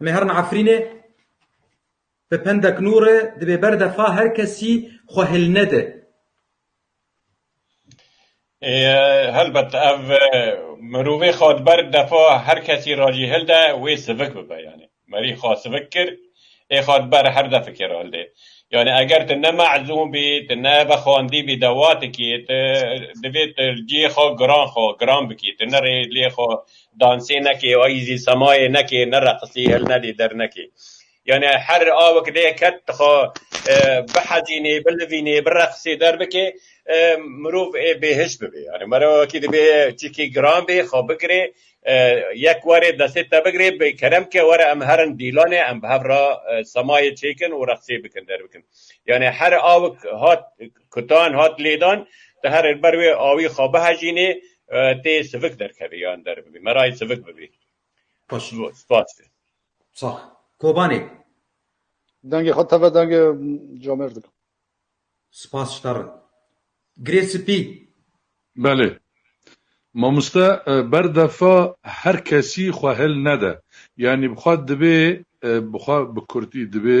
Em ê herin Efrînê bi pendek nû re divê berdefa her kesî xwe hil nede. Helbet ev mirovê xwe di ber defa her kesî re jî hil de wê sivik bibe yanî merî xwe sivik kir ê xwe di ber her defikê re hildê. Yanî eger tu ne mezûn bî tu ne vexwendî bî dewatekî tu divê tu cihê xwe giran xwe giran bikî tu ne rê lê xwe dansê nekê ayî zî semayê nekê ne reqisî hil nedê der nekê yanî her awik dê ket dixwe bihezînê bilivînê bireqisê der bikê mirov ê bêhij bibê yanî mera wekî dibê çîkê giran bê xwe bigirê yek warê destê te bigirê bi kerem bike were em her in dîlanê em bi hev re semayê çêkin û reqisê bikin der bikin yanî her awik hat Kutan hat lêdan di herê li ber wê awî xwe bihejînê tê sivik derkevê yan derbibî. Me rayê sivik bibî. Spas. Sax. Kobanê. Dengê xwe teve dengê camêr dikim. Spas ji te re. Girê spî. Belê. Mamoste ber defa her kesî xwe hêl nede. Yanî bi xwe dibê bi xwe bi kurdî dibê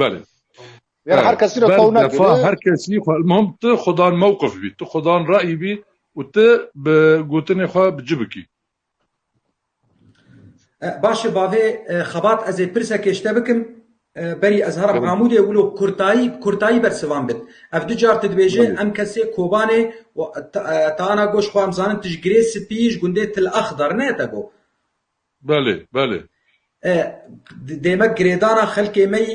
Belê. Yani her kesî re taw nekir. Defa her kesî mom tu xudan mewqif bî, tu xudan rayî bî û tu bi gotinê xwe bi ci bikî. Baş e bavê xebat ez ê pirsekê ji te bikim. Berî ez herim Amûdê wilo kurtayî kurtayî ber sivan bit. Ev du car tu dibêje em kesê Kobanê û te ana goş xwe em zanin tu ji girê spî ji gundê Til Axdar ne te go. Belê, belê. E, dême girêdana xelkê me yî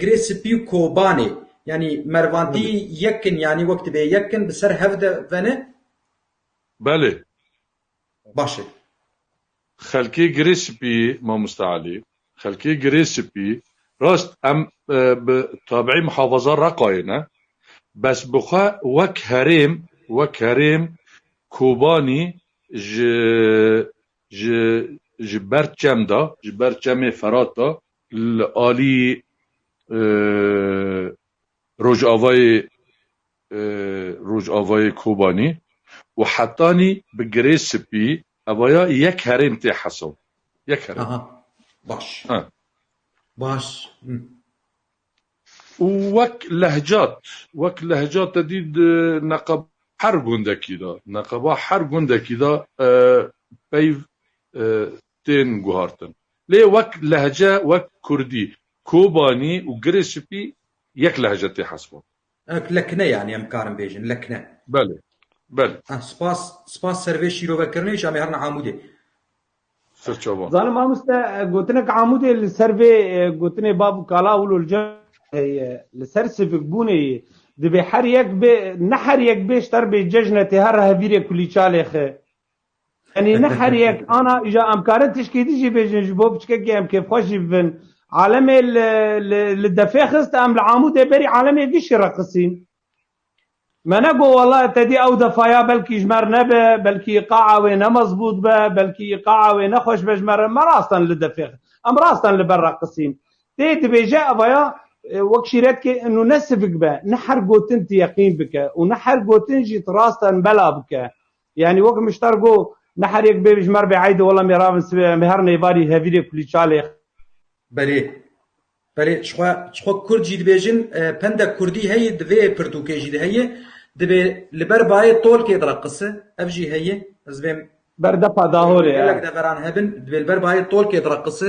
girê spî û kobanê. Yanî mervandî yek in yanî wek dibê yek in bi ser hev de vene? Belê. Baş e. Xelkê girê spî yî mamoste Elî, xelkê girê spî rast em bi tabiî mihafaza Reqayê ne. Bes bi xwe wek herêm, wek herêm Kobanî ji Ji ji ber çem de, ji ber çemê Ferat de li alî Rojavayê Rojavayê Kobanî û hetanî bi girê spî hevaya yek herêm tê hesab. Yek herêm. Aha. Baş. Baş. Û wek lehcat, wek lehcat te dît di neqeba her gundekî de, neqeba her gundekî de peyv tên guhartin. Lê wek lehce, wek kurdî, kobanî û girê spî yek lehce tê hesibandin. Wek lekne yanî em karin bêjin, lekne. Belê, belê. Spas, spas servê şîrovekirinê jî em ê herin Amûdê. Sirçava. Zalim mamoste gotinek amûdê li ser vê gotinê bav û kala wilo li cem heye li ser sivîkbûnê yê divê her yek bê ne her yek bê ji terbê cejne tê her hevîrê kulî çalê xi Enî ne her yek ana îja em karin tişkî dî jî bêjin ji bo piçkekê em kêfxweş jî bibin. Alemê li defê xist em li amûdê berî alemê gişî re qisîn. Me ne got wala te dî ew defaya belkî ji mer nebe, belkî îqaa wê ne mezbût be, belkî îqaa wê ne xweş be ji me re, me rastan li defê xist. Em rastan li ber re qisîn. Tê dibêje evaya wek şîretkê nû ne sivik be, ne her gotin tu yeqîn bike û ne her gotin jî tu rastan bela bike. Yanî wek Miştar got, ne her yek bê ji mer bê eydê wela mêravên sivê em ê her nêvarî hevîrê kulî çalê. Berê, Berê jixwe jixwe kurd jî dibêjin pendek kurdî heye di vê pirtûkê jî de heye dibê li ber bayê tolkê de qise ev jî heye ez vêm ber depa dahorê gelek deveran hebin dibê li ber bayê tolkê de qise.